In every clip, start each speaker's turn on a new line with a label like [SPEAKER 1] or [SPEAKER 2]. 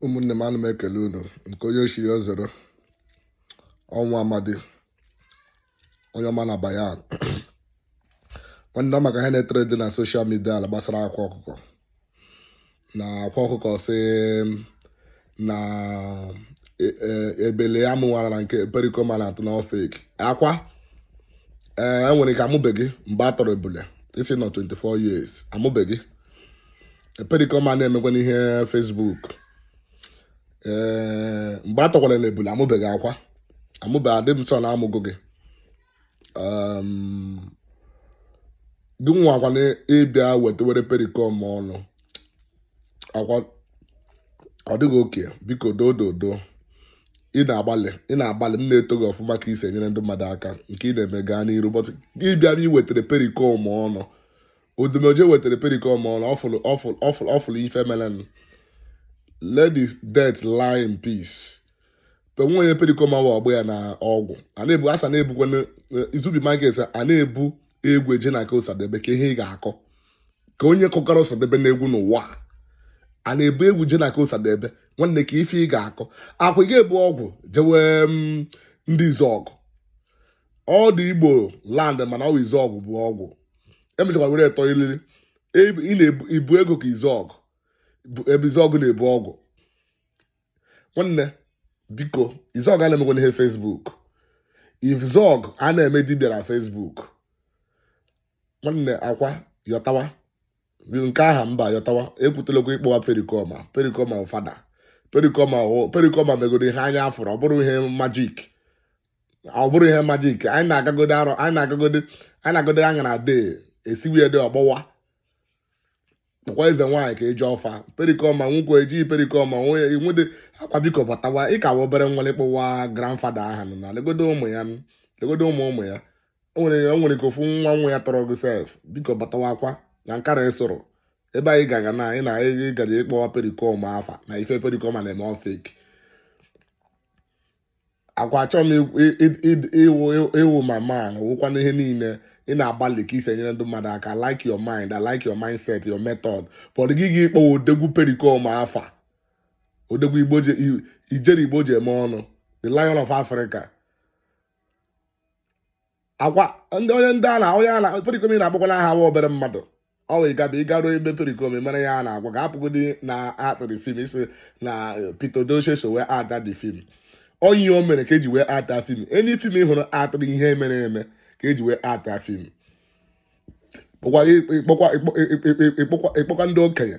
[SPEAKER 1] ụmụnne m ana m ekele unu nke onye chiri ya zere ọnwa amadi onye ọma na bayan nwanne maka ihe na-etrendi na social media ala gbasara akwa ọkụkọ na akwa ọkụkọ si na e, e, ebele ya mụwara na nke Pericoma na-atọ na ọ fake akwa ee enwere ike amụbeghị mgbe a tọrọ ebule ị sị na ọ 24 years amụbeghị Pericoma a na-emekwanụ ihe Facebook ee eh, mgbe a tọkwara na ebule amụbeghị akwa amụbeghị adị m sure na amụgo gị ehm, gị nwakwa na ịbịa wetewere Pericoma ọnụ akwa ọ dịghị okay biko doo dodo ị na-agbalị ị na-agbalị m na-eto gị ọfụma ka i si enyere ndị mmadụ aka nke ị na-eme gaa n'iru but ịbịa na-ewetara Pericoma ọnụ Odumeje wetara Pericoma ọnụ ọ fụlụ ife melenụ let the dead lie in peace but onye Pericoma wụ ọgbọ ya na ọgwụ a na-ebu asa na-ebukwa eh, izubi market a na-ebu egwu eje na nke Osadebe kee ihe ị ga-akọ ka onye kọkara Osadebe na egwu n'ụwa a na-ebu egwu je na nke Osadebe nwanne kee ife ị ga-akọ akwa ị ga-ebu ọgwụ jewe mm, ndị Izuogu ọ dị Igbo land mana ọ Izuogu bụ ọgwụ emechakwa were tọ ilili ị na-ebu ego ka Izuogu ebe Izuogu na-ebu ọgwụ nwanne biko Izuogu a na-emekwanụ ihe Facebook Izuogu a na-eme dibịa na Facebook nwanne akwa yọtawa nke aha mba yọtawa ekwutela okwu ịkpọwa Pericoma Pericoma ọ father Pericoma Pericoma megoro ihe anya afụrụ ọ bụrụ ihe magic ọ bụrụ ihe magic anyị na-agagode Arọ anyị na-agagode anyị na-agode anya na dee esiwe dị ọgbọwa kpọkwa eze nwaanyị ka eji ọfa Pericoma nwụkwa ejighị Pericoma nwunye nwede akwa biko batawa ị ka wụ obere nwa ịkpọwa grandfather aha nọ na legodo ụmụ ya nụ, legodo ụmụ ụmụ ya o nwere o nwere ka ofu nwa nwa ya tọrọ gị sef biko batawa akwa na nkara ịsụrụ ebe anyị gaga na anyị na anyị gaje ịkpọwa Pericoma afa na ife Pericoma na-eme ọ fake akwa achọghị m ikwu- ị- ị- ị- ị wụ ị wụ my man wụkwa n'ihe niile ị na-agbalị ka i si enyere ndị mmadụ aka I like your mind I like your mindset your method but gị gị ịkpọwa odogwu Pericoma afa odogwu Igbo ji i- ijere Igbo ji eme ọnụ the Lion of Africa akwa ndị onye ndị a na onye a na Pericoma ị na-akpọkwa n'aha wụ obere mmadụ ọ wee gaba ị garuo ebe Pericoma mere ya a na-agwa ga apụgodi na actịrị film isi na eh, Pete Edochie so wee act the film onye o mere ka eji wee act film any film ị hụrụ actịrị ihe mere eme ka eji wee act film ị kpọkwa ndị okenye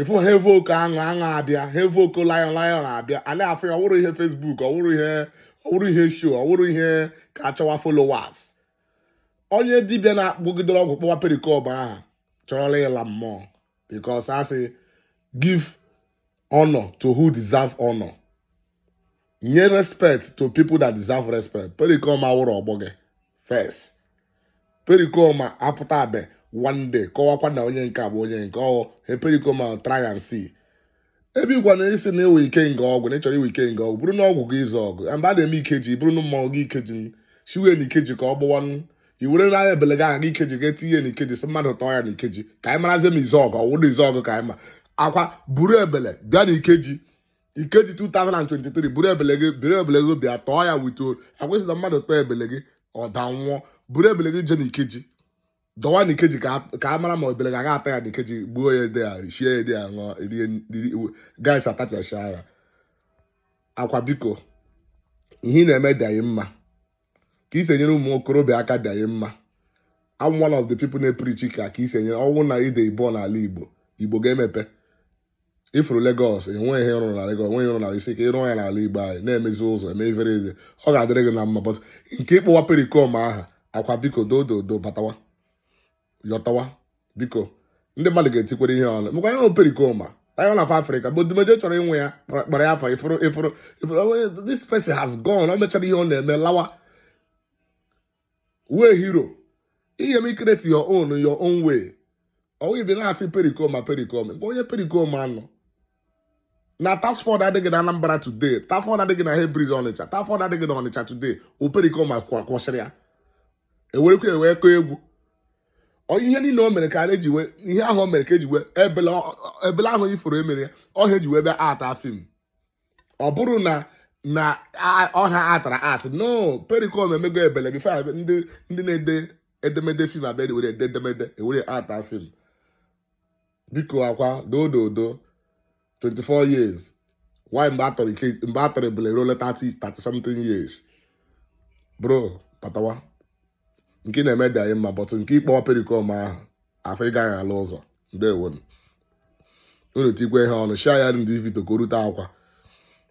[SPEAKER 1] ịfụ ha evoke aṅụ aṅụ abịa ha evoke lion lion abịa a na-afụ ya ọwụrụ ihe Facebook ọwụrụ ihe ọwụrụ ihe show ọwụrụ ihe ka a chọwa followers onye dibịa na-akpụgidere ọgwụ kpọwa Pericoma aha chọrọla ịla mmụọ because a sị give honor to who deserve honor nye respect to people that deserve respect Pericoma awụrụ ọgbọ gị first Pericoma apụtabe one day kọwakwa na onye nke a bụ onye nke ọhụ he Pericoma try and see ebe igwa na isi na iwe ike nga ọgwụ na ị chọrọ iwe ike nga ọgwụ bụrụ na ọgwụ gị Izuogu mgbe a na-eme ikeji bụrụ na mmanwụ gị ikeji siwe na ikeji ka ọ gbọwa i were n'anya ebele gị aha gị ikeji ga etinye na ikeji sị mmadụ tọọ ya na ikeji ka anyị marazie ma Izuogu ọ wụrụ Izuogu ka anyị ma Akwa buru ebele bịa na ikeji Ikeji 2023 buru ebele gị buru ebele gị bịa tọọ ya wito akwesịla mmadụ tọọ ebele gị ọ da nwụọ buru ebele gị je na Ikeji dọwa na Ikeji ka a- ka a mara ma ebele ga-aga ata ya na Ikeji gbuo ya ede ya richie ya ede ya ṅụọ rie rie guys atapịacha ya Akwa biko ihe ị na-eme dị anyị mma ka i si enyere ụmụ okorobịa aka dị anyị mma I'm one of the people na-eprichi ka ka isi enyere ọnwụ na ndị Igbo n'ala Igbo Igbo ga-emepe ị fụrụ Lagos enweghị ihe rụrụ na Lagos enweghị ihe rụrụ na isi ka ịrụọ ya n'ala Igbo anyị na-emezi ụzọ eme ifere eze ọ ga-adịrị gị na mma but nke ịkpọwa Pericoma aha Akwa biko dododo batawa yọtawa biko ndị mmadụ ga-etikwere ihe ọnụ mekwa ihe Pericoma Lion of Africa but Odumeje chọrọ ịnwe ya kpara ya afọ ị fụrụ ị fụrụ ị fụrụ this person has gone o mechara ihe ọ na-eme lawa wee hero ihe m create your own your own way ọ wụ ị bịa na-asị Pericoma Pericoma nke onye Pericoma anọ na task force adịghị na Anambra today task force adịghị na Head Bridge Ọnịcha task force adịghị na Ọnịcha today ọ Pericoma kwa- kwụsịrị ya e werekwa ya wee kọọ egwu Ọ ihe niile o mere ka a na-eji wee ihe ahụ o mere ka eji wee ebele ọ- ọ- ebele ahụ ị fụrụ e mere ya ọhịa eji wee bịa ata film ọ bụrụ na na ọha atara act no Pericoma emego ebele before ndị na-ede edemede film abịa were ede edemede e were ata film biko Akwa doododo 24 years why mgbe a tọrọ ike mgbe a tọrọ ebule ruo 30 30 something years bro patawa nke ị na-eme dị anyị mma but nke ịkpọwa Pericoma aha afọ ị gaghị ala ụzọ ndewonu unu tikwe ihe ọnụ share the video ka o rute Akwa